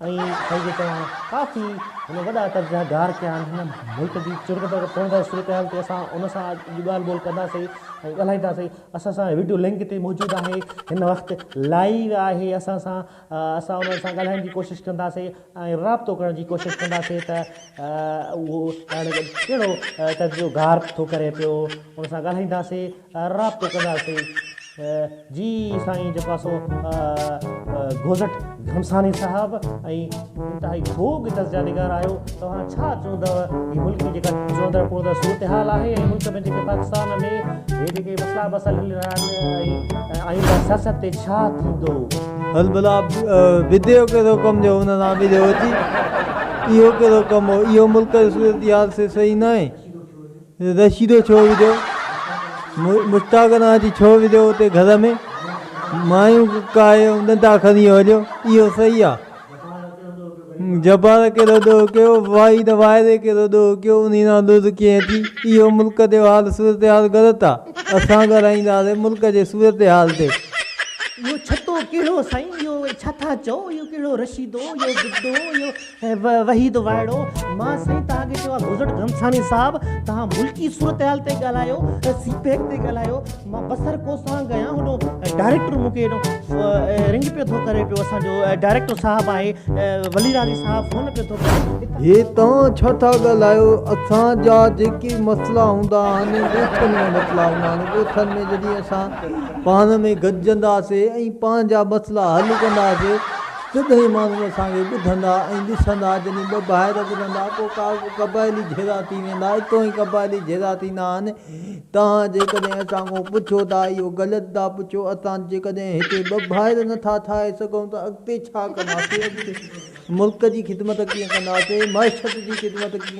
۽ سائين جي توهان ڪافي هن وڏا قبضا گار ڪيا آهن هن ملڪ جي چرڳ پرڳ پوڻ جي صورتحال تي اسان ان سان اڄ ڳالهه ٻولهه ڪنداسين ۽ ڳالهائيندا سين اسان سان وڊيو لنڪ تي موجود آهي هن وقت لائيو آهي اسان سان اسان انهن سان ڳالهائڻ جي ڪوشش ڪنداسين ۽ رابطو ڪرڻ جي ڪوشش ڪنداسين ته اهو ڪهڙو قبضو گار ٿو ڪري پيو ان سان ڳالهائينداسين رابطو ڪنداسين جي سائين جيڪو آ سو گوزٽ گهمساني صاحب ۽ انتهائي خوب جس جا نگار آهيو توهان ڇا چوندؤ هي ملڪ جي جيڪا چوندڙ پوندڙ صورت حال آهي ۽ ملڪ ۾ جيڪي پاڪستان ۾ هي جيڪي مسئلا مسئل هلي رهيا آهن ۽ آئنده سياست تي ڇا ٿيندو. هل ڀلا بديو ڪهڙو ڪم جو هن سان وڙهيو اچي اهو ڪهڙو ڪم هو اهو ملڪ جو صورتحال سي صحيح ناهي. رشيدو ڇو وڌو مشتاق انا جي ڇو وڌو اتي گهر ۾ مايون ڪاهي ڏنڊا کڻي هليو اهو صحيح آ جبار ڪهڙو ڏوهه ڪيو وائي نه وائري ڪهڙو ڏوهه ڪيو انهي ڏانهن لوڌ ڪيئن اچي اهو ملڪ جو حال صورتحال غلط آ اسان ڳالهائيندا سي ملڪ جي صورتحال تي. اهو ڇتو ڪهڙو سائين اهو ڇا ٿا چئو اهو ڪهڙو رشيدو اهو گڊو اهو. وحيد وائڙو مان سائين توهان کي چيو آهي گذرٽ گهمساڻي صاحب توهان ملڪي صورتحال تي ڳالهايو سي پيڪ تي ڳالهايو مان بصر ڪوسان گيان هڏو ڊائريڪٽر مون کي رنگ پيو ٿو ڪري پيو اسان جو ڊائريڪٽر صاحب آهي ولي راضي صاحب فون پيو ٿو ڪري هي توهان ڇا ٿا ڳالهايو اسان جا جيڪي مسئلا هوندا آهن ڳوٺن ۾ مسئلا هوندا آهن ڳوٺن ۾ جڏهن اسان پاڻ ۾ گڏجندا سي ۽ پنهنجا مسئلا حل ڪندا سي سڌئي ماڻهو اسان کي ٻڌندا ۽ ڏسندا، جڏهن ٻه ڀائر ٻڌندا، پوء قبائلي جهيڙا ٿي ويندا، اتو ئي قبائلي جهيڙا ٿيندا آهن، توهان جيڪڏهن اسان کان پڇو ٿا، اهو غلط ٿا پڇو، اسان جيڪڏهن هتي ٻه ڀائر نٿا ٺاهي سگهون ته اڳتي ڇا ڪنداسين، اڳتي ملڪ جي خدمت ڪيئن ڪنداسين، معشيت جي خدمت ڪيئن.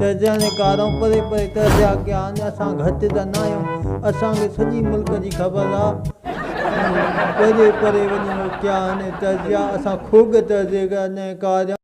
جهرجهڻي ڪارائون پري پري ڪرجي اڳيان آهن اسان گهٽ ته نه آهيون اسان کي سڄي ملڪ جي خبر آ پري پري وڃي روڪيا آهن ترجيا اسان خوڳ ترجي جهرجهڻي ڪارائون.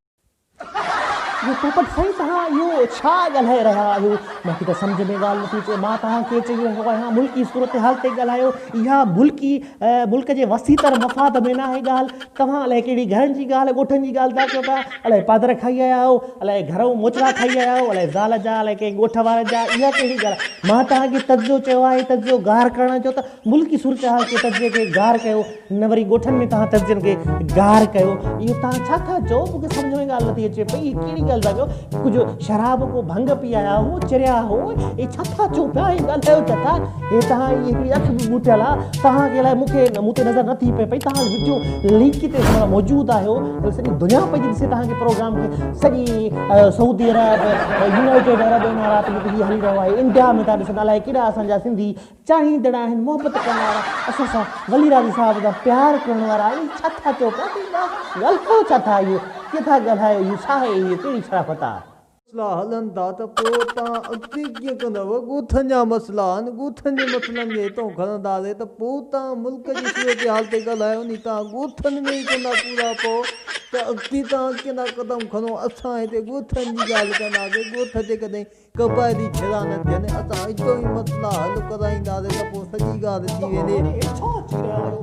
اهو پوپٽ سائين توهان اهو ڇا ڳالهائي رهيا آهيو مون کي ته سمجهه ۾ ڳالهه نٿي اچي مان توهان کي چئي رهيو آهيان ملڪي صورتحال تي ڳالهايو اها ملڪي ملڪ جي وسيع تر مفاد ۾ ناهي ڳالهه، توهان الائي ڪهڙي گهرن جي ڳالهه ڳوٺن جي ڳالهه ٿا ڪيو ٿا، الائي پادر کائي آيا آهيو، الائي گهرئون موچڙا کائي آيا آهيو، الائي زال جا، الائي ڪنهن ڳوٺ وارن جا، اها ڪهڙي ڳالهه آهي، مان توهان کي تجزيو چيو آهي، تجزيو گار ڪرڻ جو ته ملڪي صورتحال جي تجزيي کي گار ڪيو، نه وري ڳوٺن ۾ توهان تجزين کي گار ڪيو، اهو توهان ڇا ٿا چئو، مون کي سمجهه ۾ ڳالهه نٿي اچي پئي، اهي ڪهڙي ڳالهه ٿا ڪيو، ڪجهه شراب ڪو ڀنگ پي آيا آهيو، چريا آهيو، اهي ڇا ٿا چئو پيا، اهي ڳالهايو ڇا ٿا. هي تهان جي هڪڙي اک به ٻوٽيل آ تهان کي الائي مون کي مون تي نظر نه ٿي پئي پئي تهان وڊيو لنڪ تي ساڻ موجود آهيو ته سڄي دنيا پئي ڏسي تهان جي پروگرام کي سڄي سعودي عرب يونائيٽيڊ عرب امارات ۾ هي هلي رهيو آهي انڊيا ۾ ٿا ڏسن الائي ڪيڏا اسان جا سنڌي چاهيندڙ آهن محبت ڪرڻ وارا اسان سان ولي راضي صاحب جا پيار ڪرڻ وارا آهن ڇا ٿا چئو پيا ڳالهايو ڇا ٿا اهو ڪٿا ڳالهايو اهو ڇا آهي اهو ڪهڙي شرافت آ مسئلا هلن ٿا ته پوء توهان اڳتي ڪيئن ڪندؤ؟ ڳوٺن جا مسئلا آهن، ڳوٺن جي مسئلن کي هتئون کڻندا رهي ته پوء توهان ملڪ جي صورتحال تي ڳالهايو ني، توهان ڳوٺن ۾ ئي ڪوندا پورا پئو ته اڳتي توهان ڪيئندا قدم کڻو؟ اسان هتي ڳوٺن جي ڳالهه ڪنداسين، ڳوٺ جيڪڏهن قبائلي جھڙا نه ٿين، اسان اچو ۽ مسئلا حل ڪرائينداسين ته پوء سڄي ڳالهه ٿي ويندي.